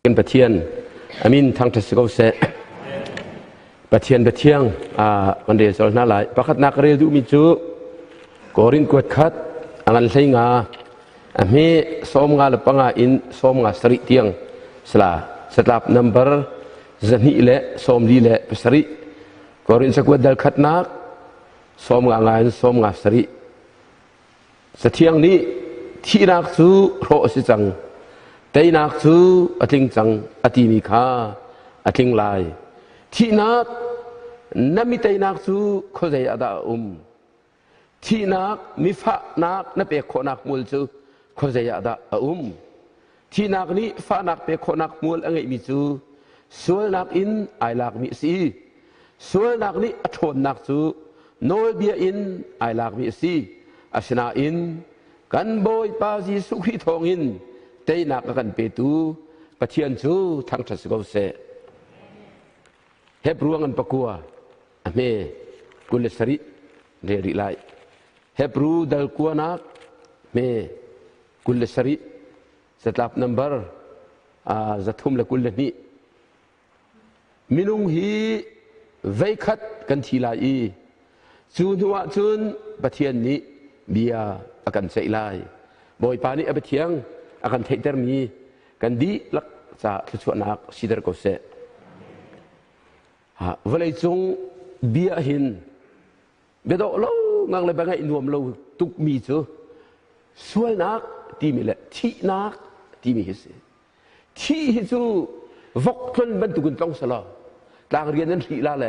Kan Pathian amin thangṭhat si ko seh. Pathian Pathiang kan rel sual hna lai. Pakhatnak ka rel duhmi cu Korin kuat khat angan hlei nga a hme som nga le panga in som nga sarih tiang sela satlap number zahnih le sawmli le pasarih Korin sakuat dal khatnak sawm nga ngai in sawm nga sarih sathiang nih thihnak cu hrawh a si cang teinak cu a tling cang a timi kha a tling lai thihnak na mi teinak cu khuazei ah dah a um Thihnak, mifahnak na pek khawhnak hmual cu khuazei ah dah a um? Thihnak nih fahnak pek khawhnak hmual a ngeihmi cu sualnak in ai lakmi a si i sualnak nih a ṭhawnnak cu nawlbia in ai lakmi a si. Asinain kan Bawipa Jesuh Khrih thawngin teinak a kan petu Pathian cu thangṭhat si ko seh. Hebru an pakua a hme kul le sarih reh rih lai. Hebru dal kuanak hme kul le sarih zatlap nambar zathum le kul le hnih minung hi veikhat kan thi lai i cu hnuah cun pathian nih bia a kan ceih lai bawipa nih a biathiang a kan theihtermi kan dihlak ca thluachuahnak sider ko seh vawleicung bia hin biadawh lo ngang le bia ngaih nuam lo tukmi cu sualnak timi le thihnak timi hi si thih hi cu vok tlon bantukin tlong selaw tlang rian an hrih la le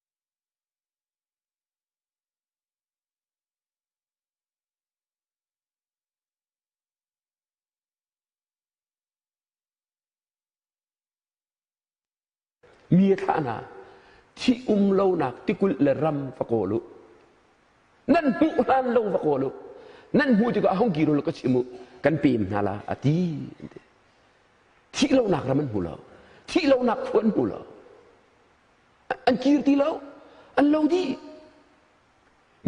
mi thahna thi um lonak tikulh le ram va kawl u nan hmuh hlan lo va kawl u nan hmuh tikah hong ki rul ka chim u kan pem hna la a ti thih lonak ram an hmu lo thih lonak khua an hmu lo an kir ti lo an lo dih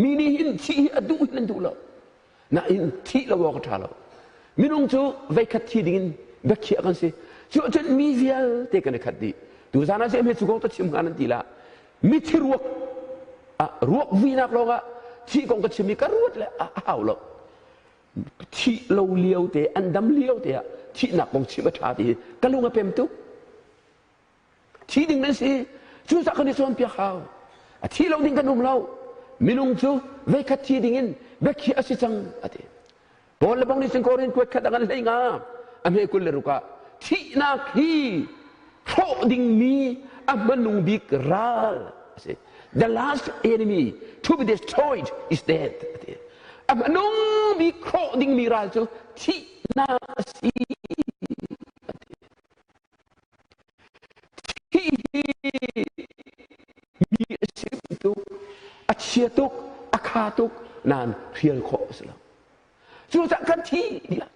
mi nih hin thih hi a duh hin an duh lo nain thih lo awk a ṭha lo minung cu veikhat thi dingin biakhiah kan si cu ahcun mi vialte kan i khat dih tu zan ah cem he cu kong ka chim hgan an ti la mithi ruak ah ruak vuinak lawngah thih kong ka chim i ka ruat le a hau lo thih lo lio te an dam lio te ah thihnak kong chim a ṭha ti hi ka lung a pem tuk Thih ding nan si. Cucaah kan i cawnpiak hau. A thi lo ning kan um lo. Minung cu veikhat thi ding in biakhi a si cang a ti. Paul le bang nih cun Korin kuat khat a kan hlei nga. A hme kul le rukah thihnak hi hrawh dingmi a hmanung bik ral a si. The last enemy to be destroyed is death. A ti. A hmanung bik hrawh dingmi ral cu thihnak a si. Hihi mi a chim tuk, a chia tuk, a kha tuk, nan hrial khawh a si lo. Cucaah kan thi tiah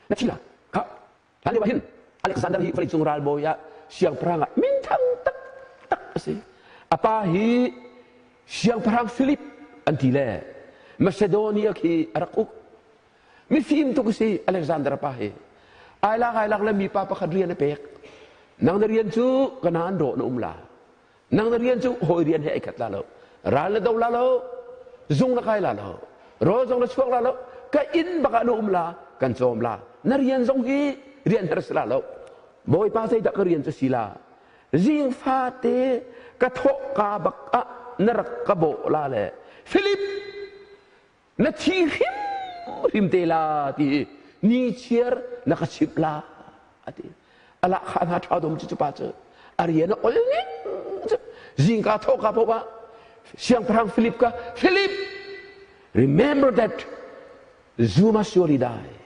na thi la kha hlan lio hin Alexander hi vawleicung ralbawi ah siangpahrang ah minthang tak tak a si a pa hi siangpahrang Philip an ti le Macedonia khi a rak uk mifim tuk si Alexander pa hi ailak ailak le mipa pakhat rian a pek nang na rian cu kana an rawh na um la nang na rian cu hawi rian he ai khat la lo ral na do la lo zung na kai la lo rawl zong na chuak la lo ka inn baka na um la kan cawm la na rian zong hi rian har sila lo bawipa sei dah ka rian cu sila zing fate ka thawk ka bak ah na rak ka bo la le philip na thi hrimhrim te la ti i ni chiar na ka chimh la a ti ala kha hna tha dom cu cupa cu ariana ol ning cu zingka thawka phowa siangpahrang philip ka philip remember that zuma surely die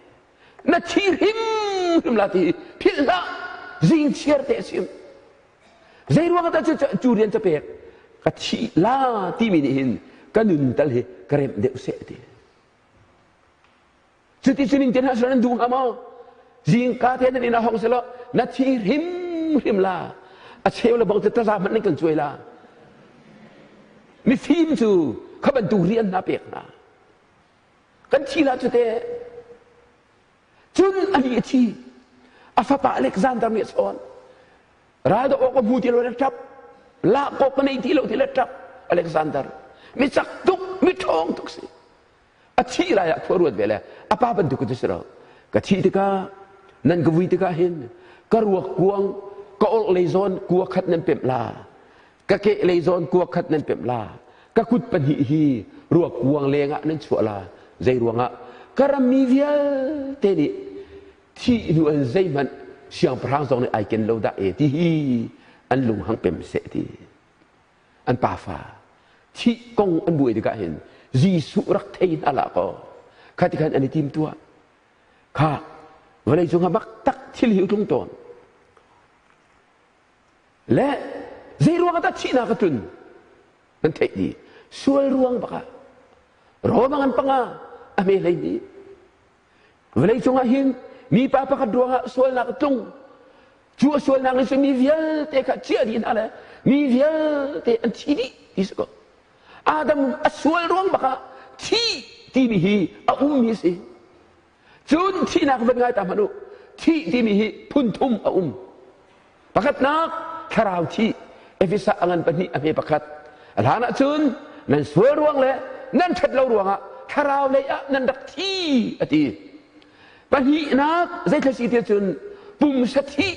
na thi hrimhrim la ti philh hlah zing chiar te sim Zeiruang ah cu cu rian ca pek ka thih la timi nih hin ka nun tal hi ka remh deuh seh ti. Cuti cunin tian hasran an duh maw? Zingka te nan ina hong selo na thi hrim hrim la a cheu le bang te taza hman nan kan cuai la. Mifim cu kha bantuk rian na pek hna. Kan thi la cu te cun ani a thi a fapa Alexander nih a chawn raldoh awk a hmu ti lo in a ṭap lak awk a nei ti lo ti le a ṭap Alexander mi cak tuk mi ṭhawng tuk si a thih lai ah khua ruat ve le a pa bantuk a si lo ka thih tikah nan ka vui tikah hin ka ruak kuang ka orh lei zawn kua khat nan pemh la ka kehlei zawn kua khat nan pemh la ka kut pahnih hi ruak kuang lengah nan chuah la zei ruangah ka rammi vialte nih thih hnu an zeihmanh siangpahrang zong nih ai ken lo dah e ti hi an lung hang pem seh ti an pafa thih kong an buai tikah hin Jesuh rak thei hna la ko kha ti khan an i tim tuah kha vawlei cung ha bak tak thil hi tlung tawn le zeiruang ah dah thihnak a tlun nan theih dih sual ruang bakah Roman an panga a me hlei dih vawlei cungah hin mipa pakhat ruangah sualnak a tlung cu a sualnak nih cun mi vialte kha ciah dih hna le mi vialte an thi dih ti si ko adam a sual ruang bakah thi timi hi a ummi a si cun thihnak zat ngai ta hmanh u thih timi hi phun thum a um pakhatnak thlarau thi efesa a ngan pahnih a hme pakhat a hlan ahcun nan sual ruang le nan ṭhat lo ruangah thlarau lei ah nan rak thi a ti pahnihnak zeitlasi ti cun pumsa thih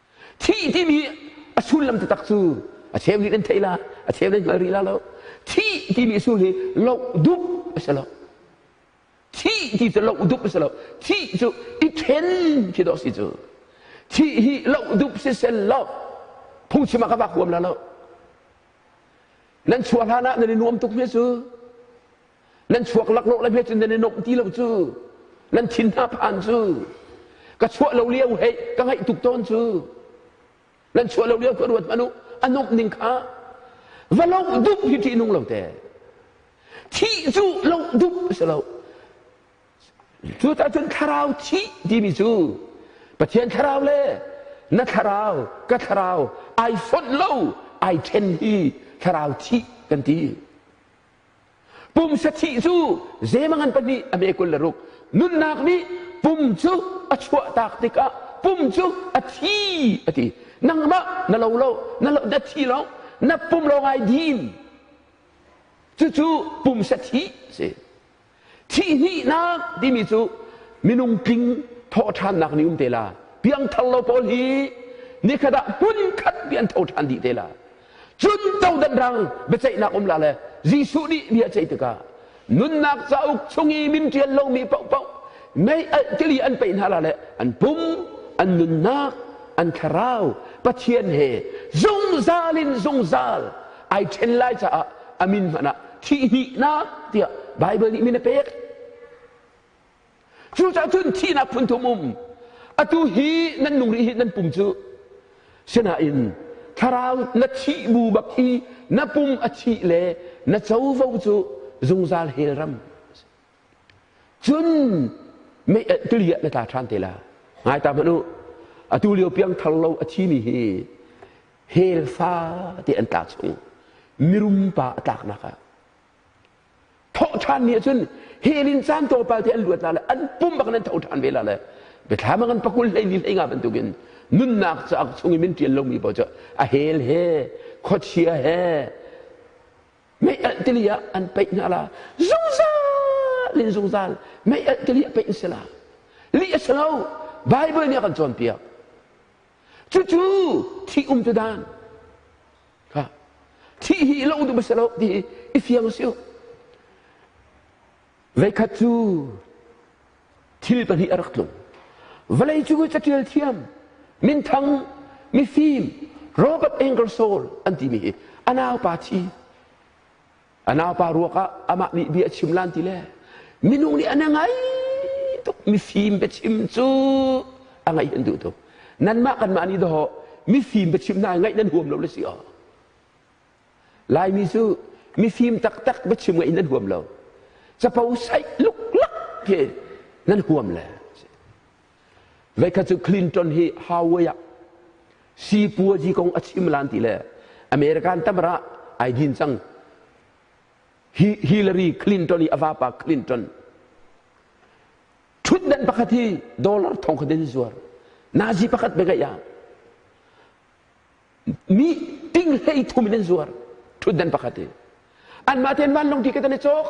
thih timi a sullam taktak cu a cheu nih nan theih la a cheu nan hngal rih la lo thih timi a sul hi loh dup a si lo thih ti cu loh dup a si lo thih cu i ṭhen khi dawh si cu thih hi loh dup si sel lo phungchim ah ka vak huam la lo nan chuah hlan ah nan i nuam tuk mi cu nan chuak lak lo le hme cun nan i nomh ti lo cu nan thin hna phan cu ka chuah lo lio hei ka ngaih tuk tawn cu nan chuah lo lio ka ruat manu a nomh ning kha va lo dup hi ṭih nung lo te thih cu lo dup si lo cu ta cun thlarau thih timi cu pathian thlarau le na thlarau ka thlarau ai fonh lo ai ṭhen hi thlarau thih kan ti pum sathih cu zeimang an pahnih a me kul le ruk nunnak nih pum cu a chuahtak tikah pum cu a thi a ti nangmah na lo lo na, lo, na thi lo na pum lo ngai din cucu pum sathih si thihhnihnak timi cu minung tling thawhṭhannak ni um te la piangthar lo pawl hi nikhat ah hmunkhat bia an tho ṭhan dih te la cun codan rang biaceihnak um la le Jesuh nih bia ceih tikah nunnak cauk chung i min ṭial lomi paohpaoh mei tili an peih hna la le an pum an nunnak an thlarau Pathian he zungzal in zungzal ai ṭhen lai caah a min hmanh ah thihhnihnak tiah Baibal nih min a pek. Cucaah cun thihnak phunthum um atu hi nan nung rih hi nan pum cu sinain thlarau na thih bu bak hi na pum a thih le na covo cu zungzal hel ram cun mei tiliah na tla ṭhan te la ngai ta hmanh u atu lio piang thar lo a thimi hi helfa ti an tlak chung i mirum pa a tlaknak ah thawhṭhan nih cun helin caan tawpal te an luat la le an pum bak nan thoṭhan ve la le biathlam bang an pakul hleili hleinga bantukin nunnak caak chung i min ṭian lomi pawl cu a hel he khuachia he mei alh tili ah an peih hna la zungzal in zungzal mei alh tili ah peih in sela li a si lo bible nih a kan cawnpiak Cucu thih um tu dan. Ha. Thih hi lo duh si lo ti i fiang si Veikhat cu thil pahnih a rak tlung. Vale cu catial thiam, minthang, mifim, rock of anger soul an timi hi anau pa thi a naupa ruakah amah nih bia a chim lan ti le minung nih an ngai tuk mifim biachim cu a ngaih an duh tuk nanmah kanmah nih dawh mifim biachim hna ngaih nan huam lo le si aw laimi cu mifim taktak biachim ngaih nan huam lo capo saih luklak ke nan huam le Vekha cu Clinton hi Huawei ah sipuazi kong a chim lan ti le American tamra ai din cang. Hi Hillary Clinton i a vapa Clinton thutdan pakhat hi dollar thong kha den zuar nazi pakhat be ga ya mi ting hlei thum in an zuar ṭhutdan pakhat i anmah tein vanlawng ti kan i cawk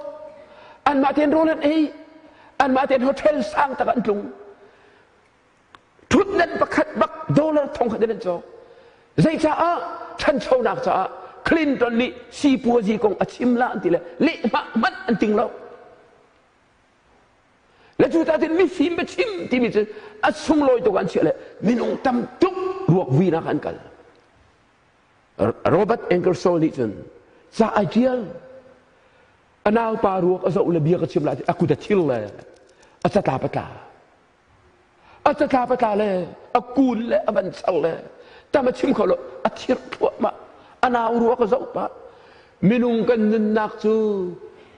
anmah tein rawl an ei anmah tein hotel sang tak an tlung ṭhutdan pakhat bak dollar thong khat in an cawk zei caah ṭhanchonak caah Clinton nih sipuazi kong a chim la an ti le lehhmah hmanh an ting lo Le cu ta tin mifim ba chim timi cu a sunglawi tuk an chiah le minung tam tuk ruak vinak an kal Robert Angerson nih cun ca a tial a naupa ruak a zoh le bia ka chim lai a kut a thil le a catla patla a tatla patla le a kun le a van sang le tam a chim kho lo a thir thluahmah a nau ruak a zoh pah minung kan nunnak cu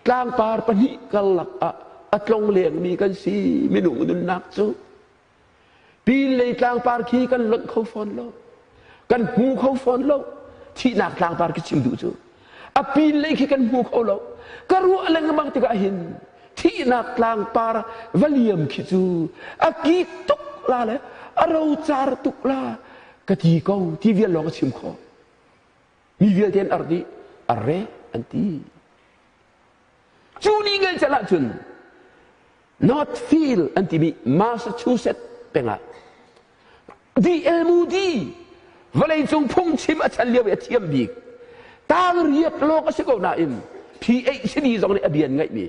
tlangpar pahnih karlak ah a tlong lengmi kan si minung nunnak cu pin lei tlangpar khi kan lonh kho fawn lo kan hmu kho fawn lo thihnak tlangtar ka chim duh cu a pin lei khi kan hmu kho lo ka ruah lengmang tikah hin thihnak tlangpar va liam khi cu a ki tuk la le a rocar tuk la ka ti ko ti vial lawng a chim kho mi vialte an ar dih arre an ti Cu ni ngelcel ahcun Northfield an timi Massachusetts peng ah DLMUD vawleicung phungchim a chan lio i a thiam bik tangriak lawng a si ko nain PhD zong nih a bian ngaihmi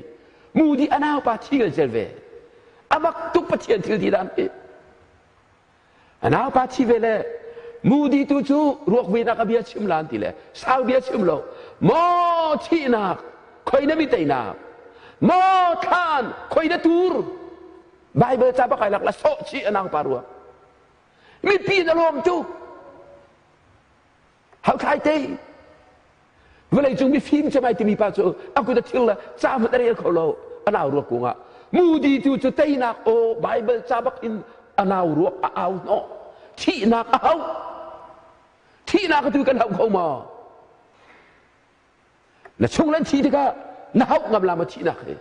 Moody a naupa thi ngelcel ve. A mak tuk Pathian thil ti dah an ti. A naupa thi ve le Mudi tu cu ruak vuinak a bia chim la an ti le sau bia chim lo maw thihnak khoi na mi teinak maw thlan khoi na tur Bible ca bakai lak la soh chi a naupa ruak mipi na lawm cu Hakhlai te. Vawlei cung mifim cem ai timi pa cu a kut a thil le ca hmanh a rel kho lo. A nau ruak kung ah mudi tu cu teinak aw Bible ca bak in a nau ruak a au hnawh. Thihnak a hau. Thihnak tu kan hau kho maw? Na chung lan thi tikah na hauh ngam lama thihnak he.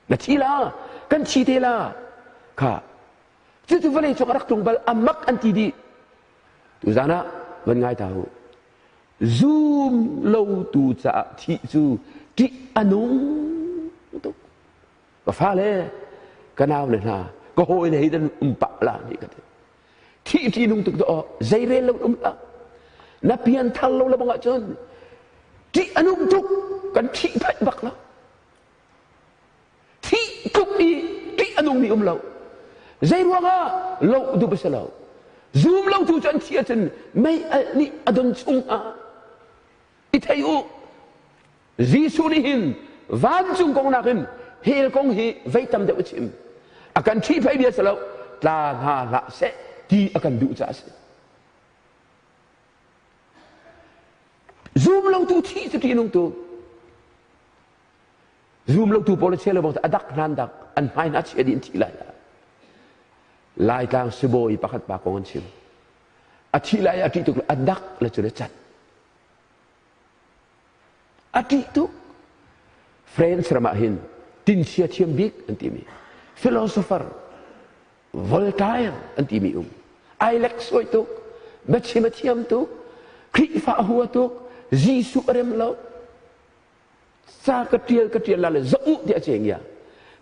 na thi la kan thi te la kha cucu vawlei cung a rak tlung bal a mak an ti dih tu zan ah van ngai ta u zum lotu caah thih cu ṭih a nung tuk ka fale ka nau le hna ka hawi le hei dan um pah la ni ka ti thi ṭi nung tuk dawh zei rel lo um la na pian thar lo la bang ahcun ṭih a nung tuk kan thi phanh bak lo Hi tluk i ṭih a nungmi um lo. Zeiruangah loh duh a si lo. Zum lo tu cu an thi ahcun mei alh nih a don chungah i thei u. Jesuh nih hin vancung kong nakin hell kong hi vei tam deuh a chim. A kan ṭhi phei bia si lo, tla hna hlah seh ti a kan duh caah a si. Zum lo tu thi cu ṭihnung tu. Zum lotu pawl a chia lo bang a dak hna an dak an hmai hna chia dih an thih lai Laitlang sibawi pakhat pa kong an chim a thih lai a ṭih tuk an dak le cun a cat a ṭih tuk France ram ah hin tinchia thiam bik an timi philosopher Voltaire an timi um Alex suai tuk biachim a thiam tuk Krihfa a hua tuk Jesuh a rem lo sa ka tial ka tial la le zoh uh tiah ceng ya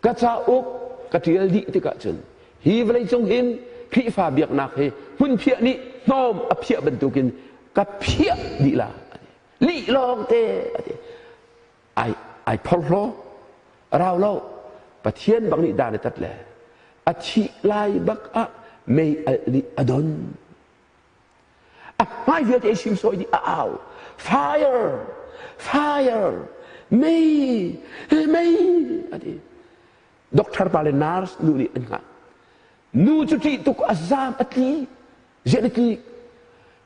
ka ca uk ka tial dih tikah cun hi vawlei cung hin Khrihfa biaknak hi hmun phiah nih hnawm a phiah bantukin ka phiah dih la li lawng te ai ai phorhlo rau lo pathian bang nih dan tat le a thih lai bak ah mei al nih a don a hmai vialte hrimsawih dih a au fire fire mei mei a ti doctor pa le nurse nu nih an hngah nu cu ṭih tuk a zaam a tli zian a tli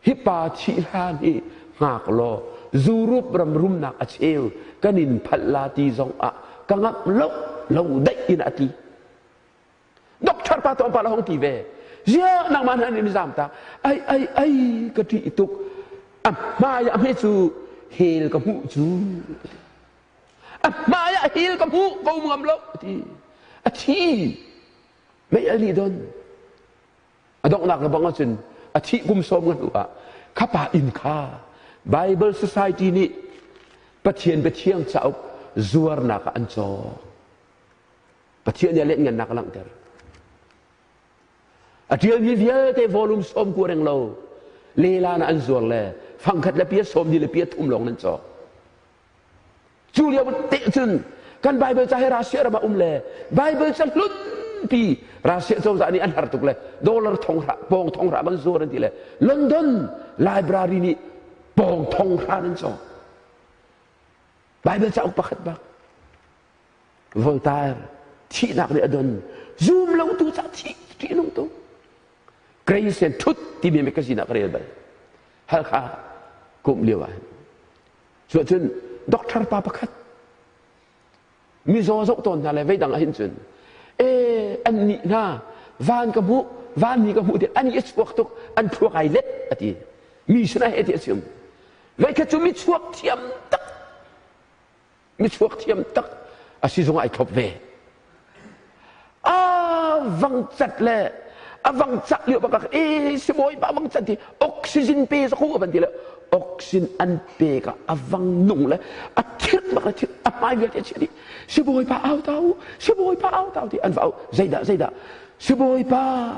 hi pa thih hlan hi hngak law zurup ram rumnak a cheu kan in phalh la ti zong ah ka ngap lo lo daih in a tli Doctor pa to pa la hong ti ve. Zia nangman han in zam ta. Ai ai ai ka ti ituk. A hmai a me cu hel ka mu cu. A hmai a hel ka mu ko ngam lo ti. A thi. Mei a li don. A donghnak na bang ahcun a thih kum sawm ngan u ah khapa inn kha Bible Society nih Pathian biathiang cauk zuarnak ah an cawk. Pathian nih a lenhngannak a langhter. A ṭialmi vialte volume sawm ku reng lo lelan an zuar le fangkhat le pia sawm ni le pia thum lawng nan cawk. Cu lio te cun kan Bible ca he Russia ram ah um le Bible ca hlut pi Russia cozah nih an har tuk le dollar thonghra pawng thonghra an zuar an ti le London library nih pawng thonghra nan cawk. Bible cauk pakhat bak. Voltaire thihnak nih a don zum lo tu ca thih ṭihnung tu grace and truth timi mekazin ah ka rel bal halkha kum lio ah cu cun doctor pa pakhat mizaw zoh tawn hna le veidang ahin cun e an nih hna van ka hmuh van ni ka hmuh ti an i chuak tuk an phuak ai let ati mi suna he ti a chim veikhat cu mi chuak thiam tak misuak thiam tak asi zong ai thlop ve a vang cat le a vang cak lio bakak e sibawi pa vang cat ti oxygen pe sa khu ban ti le oxygen an pe ka a vang nung le a thir bak le thir a hmai vial te chi ti sibawi pa au tau sibawi pa au tau ti an va au zaida zaida Sibawipa,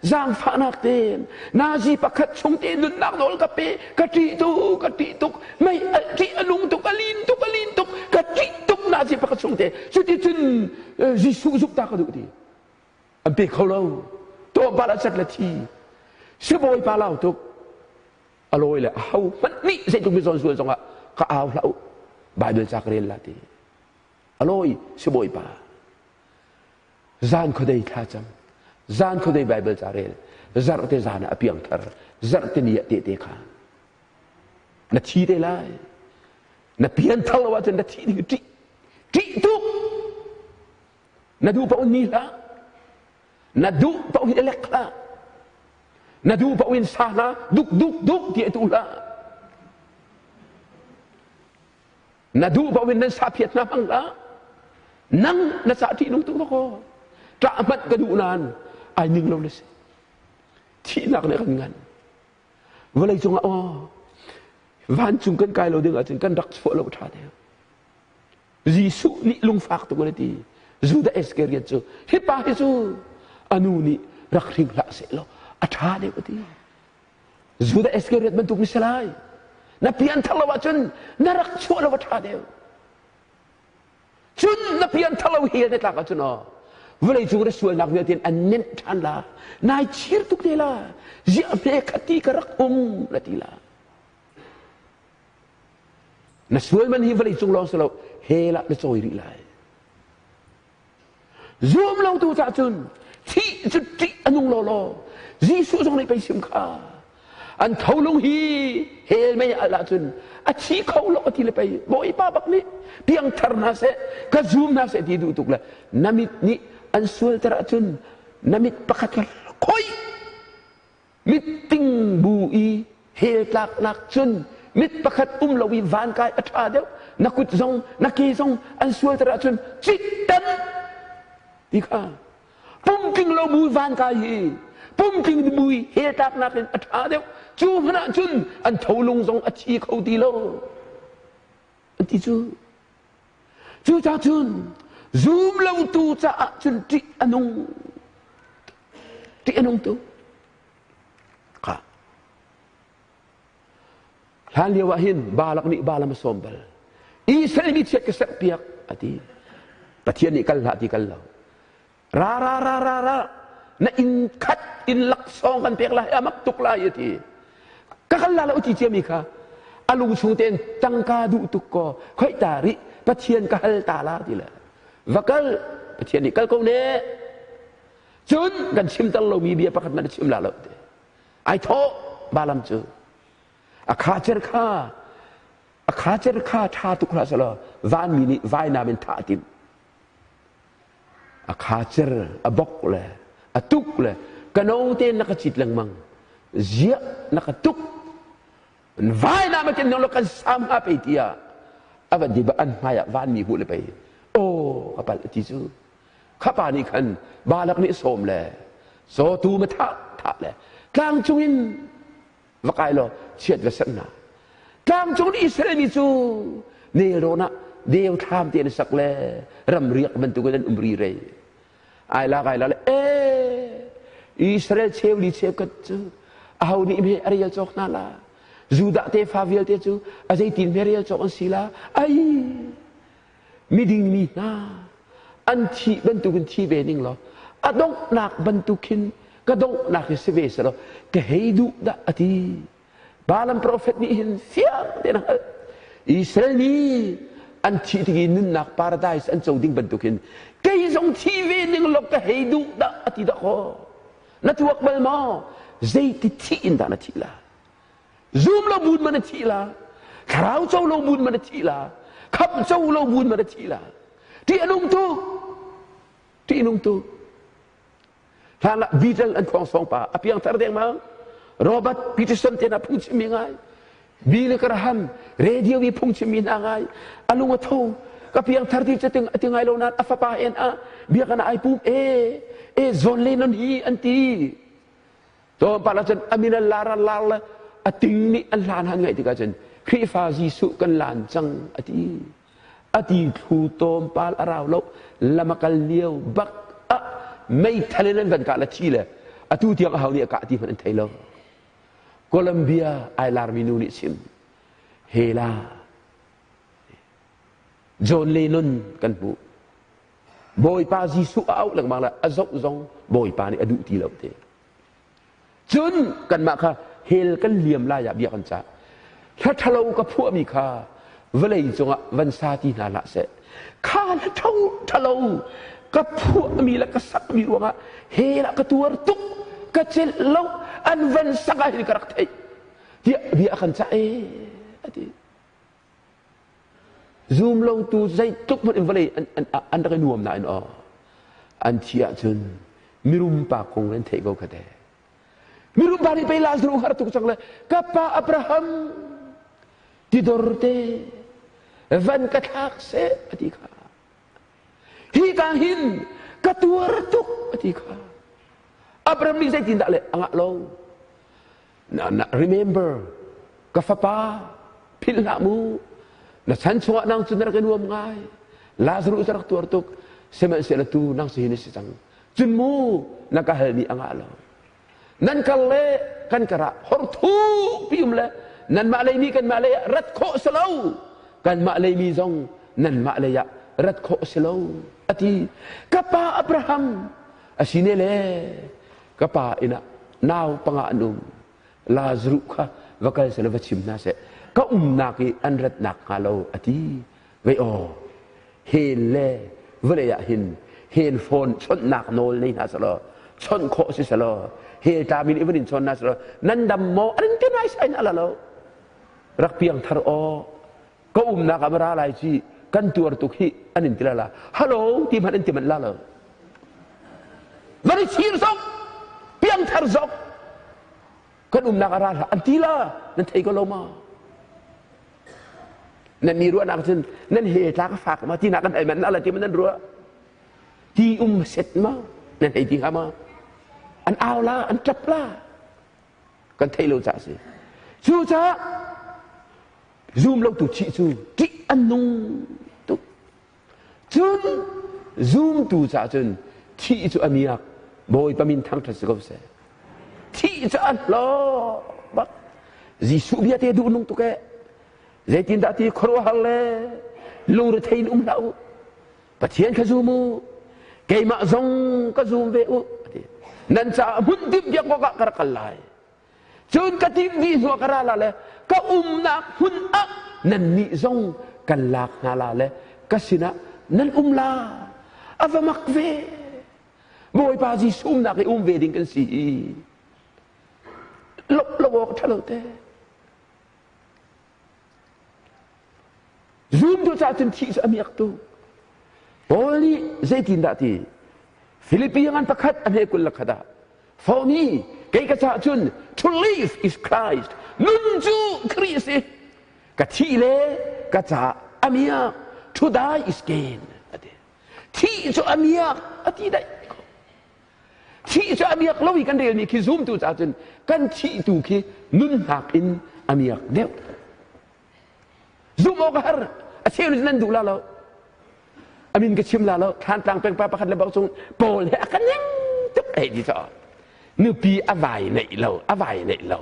zaangfahnak tein Nazi pakhat chung ti nunnak nawl ka pe, ka ṭih tuk, ka ṭih tuk, mei a ṭih a nung tuk, a lin tuk, a lin tuk, ka ṭih tuk Nazi pakhat chung te. Cuticun Jesuh zuk ta ka duh ti. An pe kho lo. Tawbal a cat le thi. Sibawipa lau tuk. A lawi le a ho hmanh nih zeitluk mi zawn sual zongah ka au hlah u. Baibal ca ka rel la ti. A lawi sibawipa. zan khuadei thla cang zan khuadei bible ca rel zarh te zan ah a piangthar zarh te ni ah te te kha na thi te lai na pian thal lo ahcun na thi ding ṭih ṭih tuk na duh paoh ni hlah na duh paoh in elek hlah na duh paoh in sa hlah duk duk duk ti tu hlah na duh bang in nan saphiat hna hmang hlah nang na cah ṭih lung tuk lo kaw ṭah hmanh ka duh nain ai ning lo na si thihnak nih kan ngan vawlei cungah aw vancung kan kai lo ding ahcun kan rak fawh lo ṭha deuh Jesuh nih lungfak tuk an ti Judah Iscariot cu hipa hi cu anu nih rak hring hlah seh law a ṭha deuh a ti Judah Iscariot bantuk na si lai. Na pianthar lo ahcun na rak chuah lo a ṭha deuh. Cun na pianthar lo hi na tlak ahcun aw vawleicung na sualnak vialte an nenh ṭhan la nai chir tuk te la ziah hme khat ti ka rak um na ti la na sual man hi vawleicung lawng si lo hela na cawi rih lai Zuam lotu cah cun thih cu ṭih a nung lawlaw. Jesuh zong nih peisim kha an tholung hi hel mei al ahcun a thi kho lo a ti le pei Bawipa bak nih piangthar hna seh ka zum hna seh ti duh tuk le na mit nih an sualter ahcun na mit pakhat kha khoi Mitting bu i hel tlaknak cun mit pakhat um lo i van kai a ṭha deuh na kut zong na ke zong an sualter ahcun cit tam ti kha pumtling lo bu van kai hi pumtling bu i hel tlaknak in a ṭha deuh cu hmanh ah cun an tholung zong a thi kho ti lo an ti cu Cucah cun zum lotu caah cun ṭih a nung. Ṭih a nung tu. Kha. Hlan lio ah hin Balak nih Balam a sawm bal. Israel mi chiat ka serh piak a ti. Pathian nih kal hlah ti kal lo. ra ra ra ra ra na inn khat inn laksawng kan pek lai a mak tuk lai a ti ka kal la lo ti ciami kha a lu chung tein tangka duh tuk ko khoi ta rih pathian ka hal ta la ti le va kal pathian nih kal ko ne cun kan chimter lomi bia pakhat man chim la lo te ai thaw balam cu a kha cer kha a kha cer kha tha tuk hlah salo van mi nih vai nam in thah tim a khacer a bok le a tuk le ka no tein na ka cit lengmang ziah na ka tuk vai na ma ken nong lo kan sam ha pe tia ava di ba an hmai ah van mi hu le pei o ka pal ti cu kha pa nih khan balak nih sawm le so tu ma tha tha le tlang chungin va kai law chiat va sanh na tlangcung Israel mi cu nelrawn ah deu thlam te na sak le ram riak bantuk in an um ri rei ai la kai la le e Israel cheu li cheu kat cu aho nih me arial chok na la Judah te fa vialte cu azeitin me rial chok an si la ai miding mi hna an thih bantukin thi ve ning law a donghnak bantuk hin ka donghnak hi si ve selaw ka hei duh dah a ti balam profet nih hin fiang tein a hngalh Israel nih an thi tik i nunnak paradise an co ding bantuk hin kei zong thi ve ning law ka hei duh dah a ti dah ko na tuak bal maw zeiti thi in dah na thi la zum lo mun man a thi la thlarau co lo mun man a thi la khap co lo mun man a thi la ti anung tu ti anung tu hlan ah beetle an khuang song pa a piang thar deng ma robert peterson te na phung chim mi ngai bi le karaham radio bi phung chim mi na ngai alung a tho ka piang thar ti chating ati ngai lo nan a fapa en a bia kana ai pum e e zon le non hi anti Caw par ah cun amin a lar a lar le a ting nih a hlan han ngaih tikah cun Khrihfa Jesuh kan lan cang a ti a ti thlu tawm pal a rau lo lam a kal lio bak ah meithal in an van kah la thi le atu tiang a hau nih a kah ti hmanh an thei lo Columbia ai larmi nu nih sim hela John Lennon kan hmuh Bawipa Jesuh a auh lengmang le a zoh zong Bawipa nih a duh ti lo te. Cun kanmah kha hell kan liam lai ah bia kan cah. Hla ṭhalo ka phuahmi kha vawlei cungah van sa ti hna hlah seh. Kha hla ṭho ṭhalo ka phuahmi le ka sakmi ruangah hell ah ka tuar tuk, ka celh lo, an van sak ah hin ka rak theih. Tiah bia a kan cah ee, a ti. Zum lotu zeitluk hmanh in vawlei an, an, an rak i nuam nain aw an thi ahcun mirum pa kong in theih ko kate. Mirum pa nih pei Lazarus har tuk cang le ka pa Abraham tidor te van ka thlak se a ti kha hi ka hin ka tuar tuk a ti kha Abraham nih zeitindah le a ngah lo Remember, ka fapa, philh hlah mu. Na chan chungah nang cu na rak i nuam ngai. Lazarus a rak tuar tuk. Sihmanhsehlaw tu nang si hi na si cang. Cun mu, na ka hal nih a ngah lo. Nan kal le kan karah horthu pium le nanmah lei mi kanmah lei ah rat khawh si lo. Kanmah lei mi zong nanmah lei ah rat khawh si lo. A ti. Ka pa Abraham, a sine le ka pa innah nau panga an um Lazaruh kha va kal seh va chim hna seh ka umnak i an rat nakhnga lo a ti vei aw hel le vawlei ah hin hel fawn chawnhnak nawl nei hna selaw chawnh khawh si selaw hel tla min i van in chawn hna selaw nan dam maw an in pe nai sai na la lo rak piang thar aw ka umnak ah va ra lai ci kan tuar tuk hi an in tila la hello ti hmanh an ti manh la lo van i chir zok piangthar zok kan umnak ah ra hla an ti la nan thei ko lo ma nan ni ruah nak cun nan he tla ka fak ma ti nak kan ai man ala ti man nan ruah ti um set ma nan hei ti kha ma an au la an tap la kan thei lo ca si cu ca zum lotu thih cu ṭih an nung tuk cun zumtu caah cun thih cu a miak bawipa min thangṭhat si ko seh thih cu an hlawh bak jesuh bia te duh nung tuk e zeitin dah ti khuaruahhar le lungrethein um hlah u pathian kha zum u keimah zong ka zum ve u nan caah hmun dimpiak awkah ka rak kal lai Cun ka timhmi hnuah ka ra la le ka umnak hmun ah nannih zong kan lak hna la le ka sinah nan um la a va mak ve Bawipa Jesuh umnak i um ve ding kan si i lawmh lo awk ṭha lo te Zumtu caah cun thih cu a miak tuk. Paul nih zeitindah ti? Filipi ngan pakhat a hne kul lakhat ah, Foni, kei ka caah cun to live is Christ, nun cu Khrist i ka thih le ka caah a miak, to die is gain. A ti. Thih cu a miak a ti daih. thih cu a miak lo i kan relmi khi zumtu caah cun kan thihtu khi nunnak in a miak deuh zumh awk a har a cheu nih nan duh la lo a min ka chim la lo thlantlang pengpa pakhat le bau chung paul he a ka ning tuk ei ti to nupi a vai neih lo a vai neih lo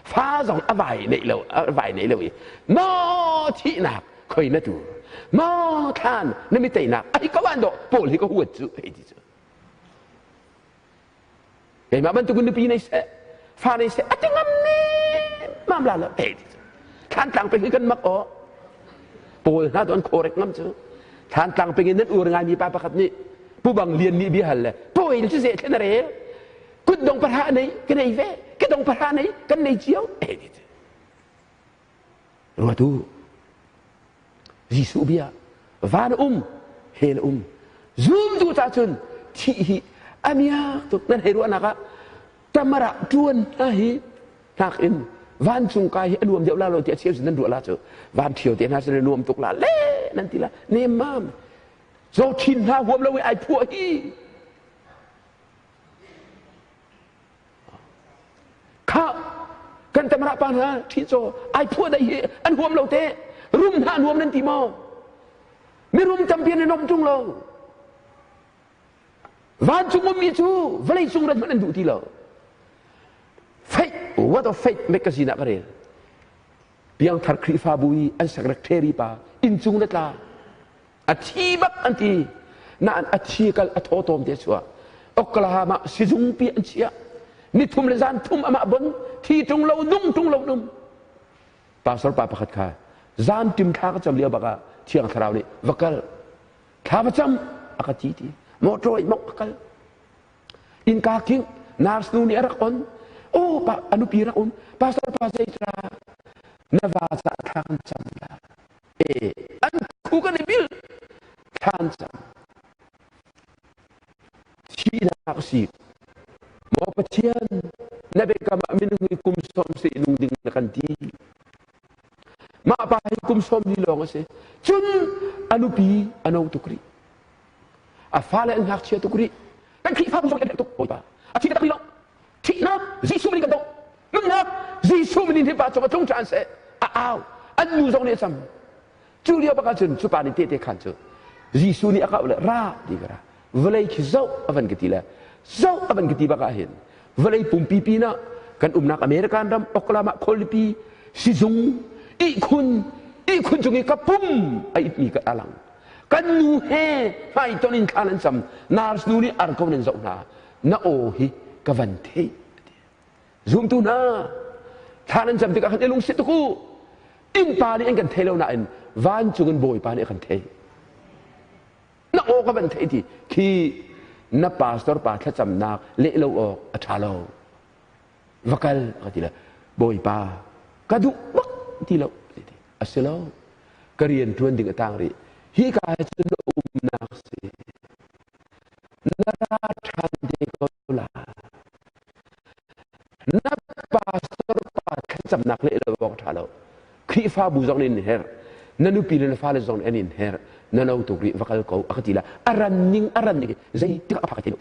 fa zong a vai neih lo a vai neih lo i mo thihnak khoi na tu mo thlan na mi teinak ai ka wan do paul hi ka huat cu ei ti cu Keimah bantukin nupi nei seh, fa nei seh, a ti ngam nemam la lo. Hei, thlantlang peng i kan mak aw. Paul hna tu an khorek ngam cu. Thlantlang peng in nan ur ngai mi pa pakhat nih pubang lian nih bia hal le pawi cu ze thlen re kut dong para nei kan ei ve ke dong para nei kan nei cio eh Ngatu Jesuh bia van um hen um zumtu ta cun thi hi a miak tuk nan hei ruahnak ah tamara tuan hna hi nak in vancung ka hi a nuam deuh la lo ti a cheu nan ruah la cu van thio te hna sin nuam tuk la le nan ti la nem mam zo thin hna huam lo i ai phuah hi Khah! Kan tamrah pa hna ṭhicaw ai phuah dai hi an huam lo te rum hna nuam nan ti maw? Mirum tampi nan om ṭung lo. Vancung ummi cu vawlei cung rat hmanh an duh ti lo. Faith, what of faith make ka sinak a rel. piangthar khrihfabu i an sekret ṭheripa inncung le tla a thi bak an ti nain a thi kal a thaw tawm te chuah Oklahoma sizung pi an chiah nithum le zan thum amah bon thi tung lo nung tung lo num pastor pa pakhat kha zan tim thla ka cham liao baka thiang thlarau nih va kal thla va cham aka ti ti motor i mok akal Innka kingh nurse nu nih a rak on. Oh, pa, a nupi rak um. Pastor pa zeitra na va ca thlan cam la. E, an ku kan i bil thlan cam. Sinak si. Mo Pathian na bekam ah min kum som se nung ding na kan ti. Mah pa hi kum sawm li lawng a si. Cun a nupi a no tuk rih. A fale an ngakchia tuk rih. Kan Khrihfa bu kan tuk bawipa. A thi taktak lo. Thihnak Jesuh min kan tong. Nunnak Jesuh min in hi pa cung a tlung ṭhan seh. A au. An nu zong nih a cam. Cu lio bak ahcun cu pa nih tehte khan cu Jesuh nih a kau le ra ti ka ra vawlei khi zoh a van ka ti le zoh a van ka ti bak ah hin vawlei pumpi pinah kan umnak American ram Oklahoma khualipi sizung ihkhun ihkhun cung i ka pum a itmi ka a lang kan nu he hmaiton in thla nan cam nars nu nih ar ko nan zoh hna na aw hi ka van theih Zumtu hna, thla nan cam tikah kan i lungsit tuk u. Innpa nih an kan thei lo nain vancung in Bawipa nih a kan thei. Na aw ka van thei ti khi na pastor pa thlacamnak leh lo awk a ṭha lo. Va kal ka ti le Bawipa ka duh bak ti lo a si lo ka rian ṭuan ding a tang rih hi ka cun umnak si na ra ṭhan te ko Na pastor pa thlacamnak leh lo bawng tha lo. Khrihfabu zong nin her. Na nupi le na fale zong an in her. Na no tu ri vakal ko akati la. Aran ning aran ning zeitik aphak ti.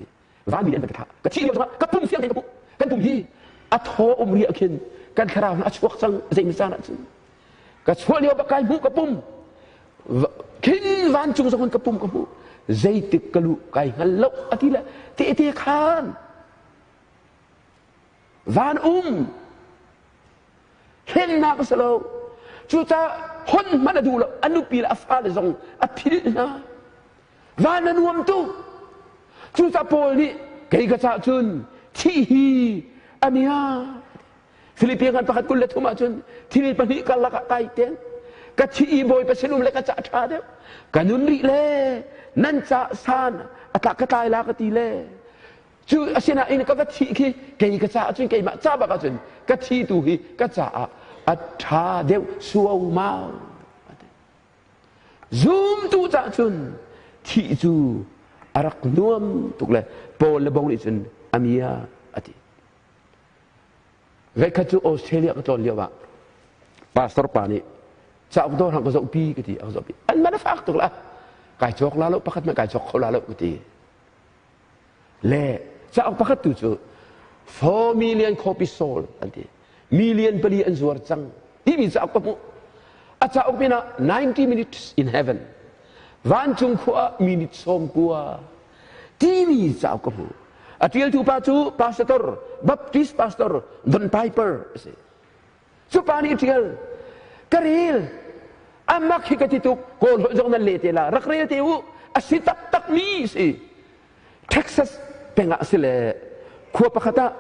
Van min an ka tha. Ka thi ka ka pum siang ka kan tum hi. A tho umri akhin kan thlarau na chuak sang zei misana chin. ka chuah lio bak kai hmuh ka pum khin vancung zong ka pum ka hmuh zeitik ka luh kai hngal lo a ti le tehte khan van um hengnak a si lo cucah hon hman a duh lo a nupi le a fale zong a phil hna van a nuam tuk cucah paul nih kei ka cah cun thih hi a nia Filipi ngan pakhat kul le thum ahcun thil pahnih karlak ah kai ten ka thi i bawipa sinum le ka ca ṭha deuh ka nun rih le nan ca san atlak ka tlai la ka ti le cu asinain ka va thi khi kei ka caah cun keimah ca bak ahcun ka thi tu hi ka caah a ṭha deuh suaumau zumtu caah cun thi cu a rak nuam tuk le paul le bong nih cun a mia a ti Veikhat cu Australia ka tlawn lioah pastor pa nih cauk dawr hang ka zohpi ka ti a ka zohpi an man a fak tuk la kai cawk la lo pakhat hmanh kai cawk kho la lo ka ti le cauk pakhat tu cu four million copy sold an ti million pali an zuar cang timi cauk ka hmuh a cauk pinah 90 minutes in heaven vancung khua minute sawm kua timi cauk ka hmu a ṭialtu pa cu pastor baptist pastor Don Piper a si cu pa nih ṭial ka ril amak hi ka ti tuk kawl hoi zong nan le te la rak rel te u a si taktak mi si texas pengah a si le khua pakhat ah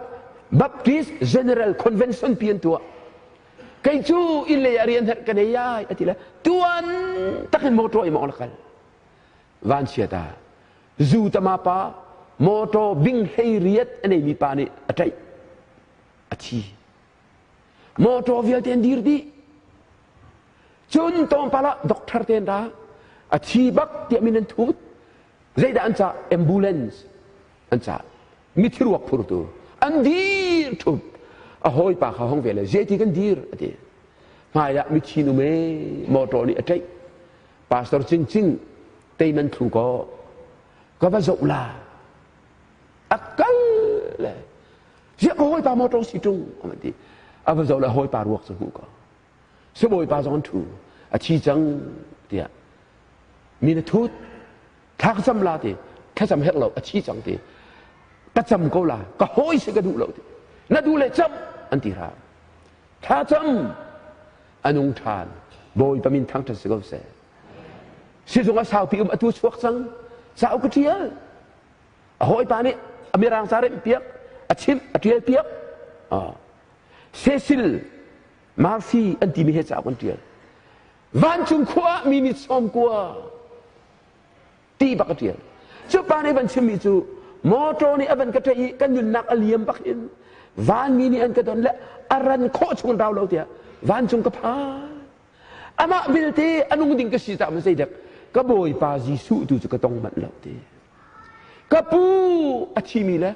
baptist general convention pian tuah kei cu in le a rian her ka nei ai a ti le tuan takin motor i mong la kal vanchiat ah zutama pa motor bing hleiriat a neimi pa nih a tlaih a thi motor vialte an dir dih cun tlawmpal ah doctor ten ra a thi bak tiah min an thut zeidah an cah ambulance an cah mithi ruak phurtu an dir thut a hawipa kha hong ve le zeiti kan dir a ti hmai ah mithi nu me motor nih a tlaih Pastor Cincin, tei nan thlu kaw ka va zoh la a kal le ya ka hawipa motor si tung a man ti a va zoh le hawipa ruak cu hmuh kaw si bawipa zong thu a thi cang tiah mi na thut thak zam la ti thlacam her lo a thi cang ti ka cam ko la ka hawi si ka duh lo ti na duh le cam an ti ra tha cam a nung ṭhan bawipa min thangṭhat si ko seh sizung a saupi um a tu chuak cang sau ka ṭial a hawipa nih a mirang ca remh piak a chimh a ṭial piak Cecil Murphy an timi he cauk an ṭial vancung khua ah mi nih sawm kua ti bak a ṭial. Cu pa nih van chimmi cu motor nih a van ka ṭaih i kan nunnak a liam bak in vanmi nih an ka don le a ran khawh chung rau lo tiah vancung ka phan. Amah vilte a nung ding ka si caah zei dek ka bawipa Jesuh tu cu ka tong manh lo ti. Ka pu a thimi le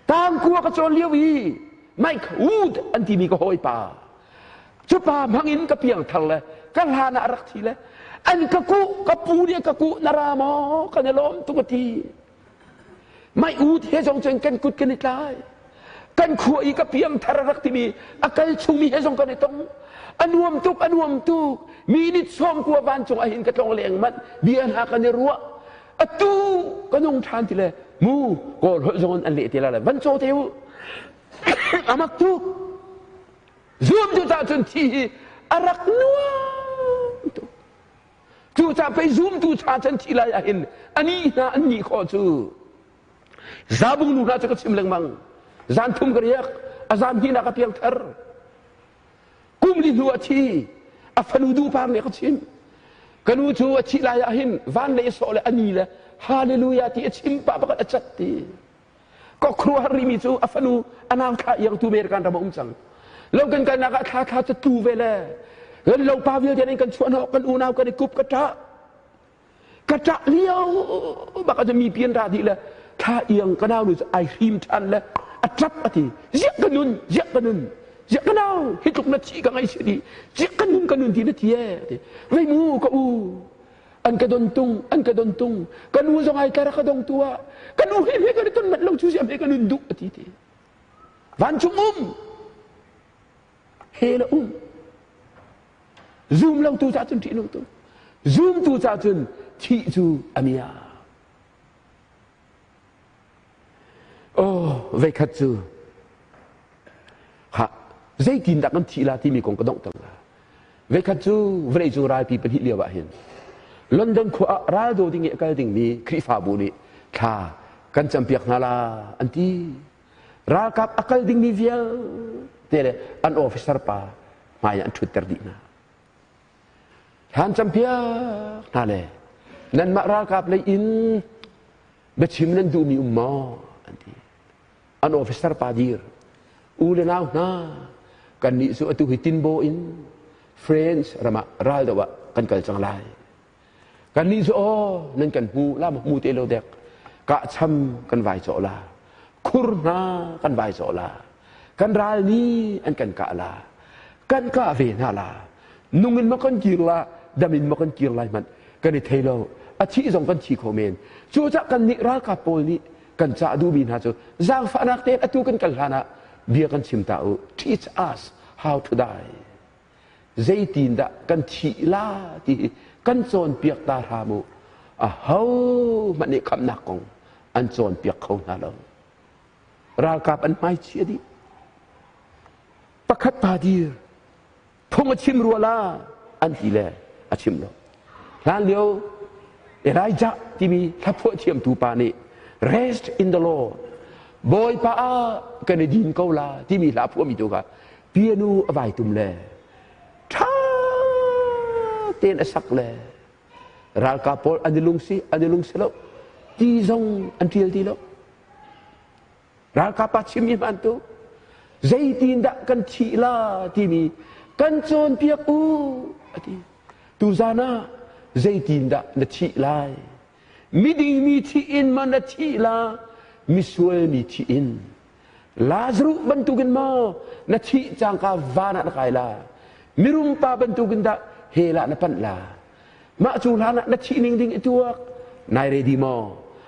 tangkua ka cawn lio i maik hud an timi ka hawipa cu pa hmangin ka piangthar le ka hlan ah rak thi le an ka kuh ka pu nih ka kuh na ra maw kan i lawm tung a ti mai u the zong cun kan kut kan i tlai kan khua i ka piam thar rak timi a kal chungmi he zong kan i tong a nuam tuk a nuam tuk minute sawm kua van cung ahin ka tlong leng manh bia hna kan i ruah atu ka nung than ti le mu kawl holh zon an le ti la le van cho te u a mak tuk zumtu cah cun thi hi a rak nuam tuk cucah pei zumtu cha chan thi lai ahhin ani hna an nih khawh cu zabung nu hna cu ka chim lengmang zan thum ka riak a zan hnih nak a piangthar kum li hnu a thi a fanu duhpar nih ka chim kanu cu a thi lai ahhin van le sawh le ani le hallelujah ti a chim pa pakhat a cat ti Ka khuaruah rimi cu a fanu a nangthla iangtu men kan ram a um cang. Lo kan kalnak ah thla thla cu tu ve le kan lo pa vialte in kan chuah hnawh kan unau kan i kup ka ṭah ka ṭah lio bak a mi pian ra di le thla iang ka nau nu cu ai hrim ṭhan le a ṭap a ti ziak ka nun ziak ka nun ziak ka nau hi tluk na chi ka ngai si di ziak ka nun ka nun ti na ti e ti ngei mu ka u an ka don tung an ka don tung ka nu zong ai tlar ka dong tu ah ka nu hi he kan ton mat lo chu siam he kan duh ati te van chung um he la um zoom lo tu ca cun ṭih lo tu zoom tu ca cun thih cu amia Aw, veikhat cu ha zeitindah kan thih la timi kong ka dongh cang. Veikhat cu vawlei cung ralpi pahnih lio ah hin London khua ah ral do ding i a kal dingmi Khrihfabu nih thla kan campiak hna la an ti. Ralkap a kal dingmi vialte le an officer pa hmai an ṭhutter dih hna. Hlan campiak hna le nanmah ralkap lei in biachim nan duhmi um maw an ti an officer pa dir u le nau hna kannih cu atu hi tinbaw in France ramah ral doh ah kan kal cang lai Kannih cu aw nan kan hmu la hmu te lo dek kahcham kan vai cawh la khur hna kan vai cawh la kan ral nih an kan kah la kan kah ve hna la nung in ma kan kir la dam in ma kan kir lai hmanh kan i thei lo a thih zong kan thi kho men cu cah kan nih ralkap pawl nih kan cah duhmi hna cu zaangfahnak tein atu kan kal hlanah bia kan chim ta u teach us how to die zeitindah kan thih la ti hi kan cawnpiak ta hram u aho hmanh nih khamnak kong an cawnpiak kho hna lo ralkap an hmai chia dih pakhat pa dir phung a chim rua la an ti le a chim lo Hlanlio Elijah timi thlaphuah thiamtu pa nih rest in the Lord Bawipa ah kan i din ko la timi hla a phuahmi tu kha pianu a vai tum le ṭha tein a sak le ralkap pawl an i lungsi an i lungsi lo ti zong an ṭial ti lo ralkap pa chimmi hmantu zeitindah kan thih la timi kan cawnpiak u a ti tuzan ah zeitindah na thih lai miding mi thih in ma na thih la misual mi thih in Lazarus bantukin maw na thih cangka van ah na kai la mirum pa bantukin dah he la na panh la mah cu hlan ah na thih ning ding i tuak nai ready maw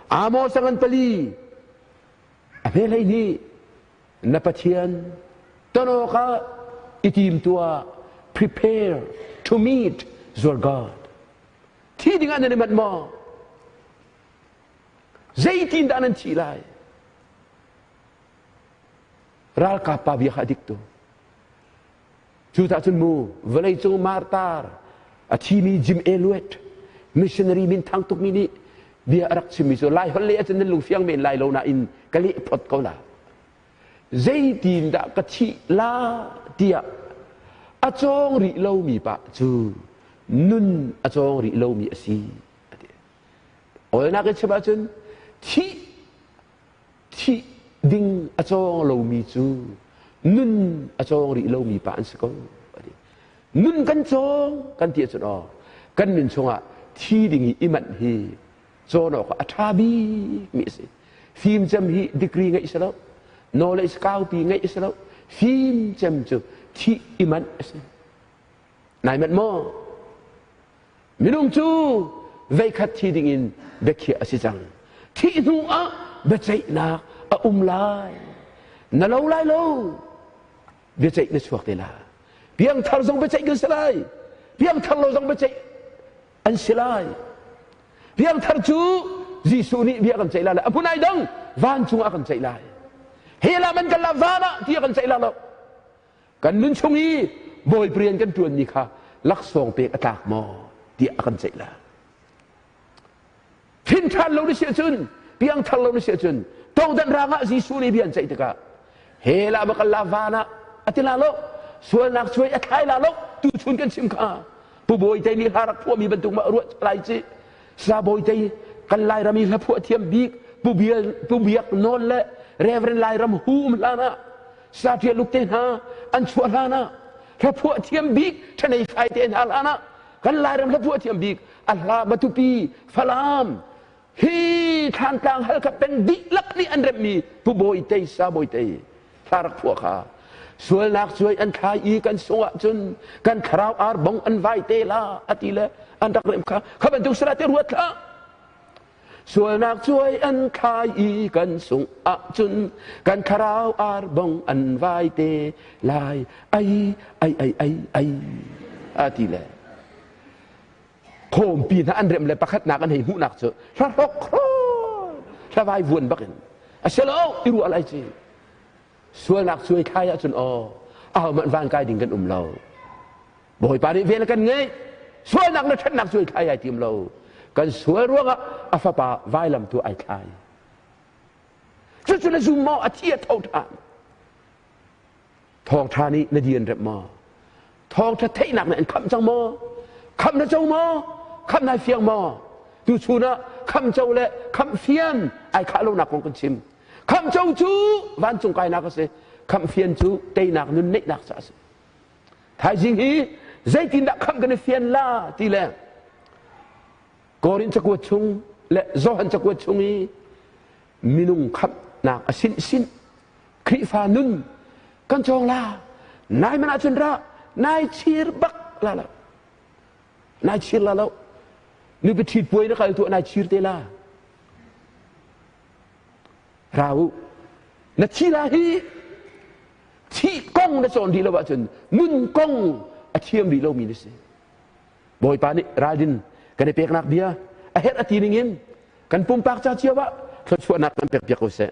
Amos angan pali A hmelei nih na Pathian ton awkah i tim tuah. Prepare to meet your God. Thi dingah nan i manh maw? Zeitindah nan thi lai? Ralkap pa bia kha a dik tuk. Cu tah cun mu vawleicung martar a thimi Jim Elliot missionary minthang tukmi nih bia a rak chimmi cu lai holh leh ahcun nan lung fiang men lai lo nain ka leh phot ko la zeitin dah ka thih la tiah a cawng rih lomi pa cu nun a cawng rih lomi a si a ti awlnak in chim ahcun thih thih ding a cawng lomi cu nun a cawng rih lomi pa an si ko nun kan cawng kan ti ahcun oh kan nun chungah thi ding i imanh hi cawn awk a ṭha bikmi a si fimcem hi degree ngeih si lo knowledge kaupi ngeih si lo fimcem cu thih imanh a si Nai manh maw? Minung cu veikhat thi dingin biakhiah a si cang. Thih hnu ah biaceihnak a um lai. Na lo lai lo. Biaceih na chuak te la. Piangthar zong biaceih kan si lai. Piangthar lo zong biaceih an si lai. Piangthar cu Jesuh nih bia kan ceih lai. A phun ai dang vancung ah kan ceih lai. He lam an kal la van ah ti kan ceih la lo. kan nun chung i bawi rian kan ṭuanmi kha laksawng pek a tlak maw tiah a kan ceih la thinṭhan lo na si ahcun piangthar lo na si ahcun todan rangah Jesuh nih bia an ceih tikah hela va kal la van ah a ti la lo sualnak cuai a thlai la lo tu chun kan chim kha pu bawi tei nih harak phuami bantuk ma ruah lai ci sa bawi tei kan lai rami hla phuah thiam bik pu bial pu biak non le reverend lai ram hum hlan ah saṭialuk te hna an chuah hlanah hlaphuah thiam bik ṭhanei fai te hna hlanah kan lairam hlaphuah thiam bik a hla matupi falam hi thlantlang halka peng dihlak nih an remmi pu bawi tei sa bawi tei hla rak phuah kha sualnak cuai an thlai i kan sungah cun kan thlarau ar bong an vai te la a ti le an rak rem kha kha bantuk sara te ruat hlah Sualnak cuai an thlai i kan sungh ahcun kan thlarau ar bong an vai te lai ai ai ai ai ai a ti le khawmpi hna an rem le pakhatnak an hei hmuhnak cu hla hrok hlavai vuan bakin a sialo i ruah lai ci sualnak cuai thlai ahcun aw au man van kai ding kan um lo Bawipa nih vel kan ngeih sualnak na ṭhatnak cu ai thlai ai tim lo kan sual ruangah a fapa vailam tu ai thlai cucu na zum maw a thi a tho ṭhan thawngṭha nih na dian rep maw thawngṭha theihnak nih an khamh cang maw khamh na co maw khamh nai fiang maw tu chunah khamh co le khamh fian ai khah lonak kong kan chim khamh co cu vancung kainak a si khamh fian cu teinak nun neihnak ca a si thaizing hi zeitindah khangh kan i fian la ti le korin cakuat chung le johan cakuat chung i minung khamnak a sin sin khrifa nun kan cong la nai man ahcun ra nai chir bak la la nai chir la lo nu biathit puai na kal tu nai chir te la ra u na thih la hi thih kong na cawn rih lo ahcun nun kong a thiam rih lomi na si bawipa nih ralrin kan i peknak bia a herh a ti ning in kan pumpak ca cio ah thluachuahnak kan pek piak ko seh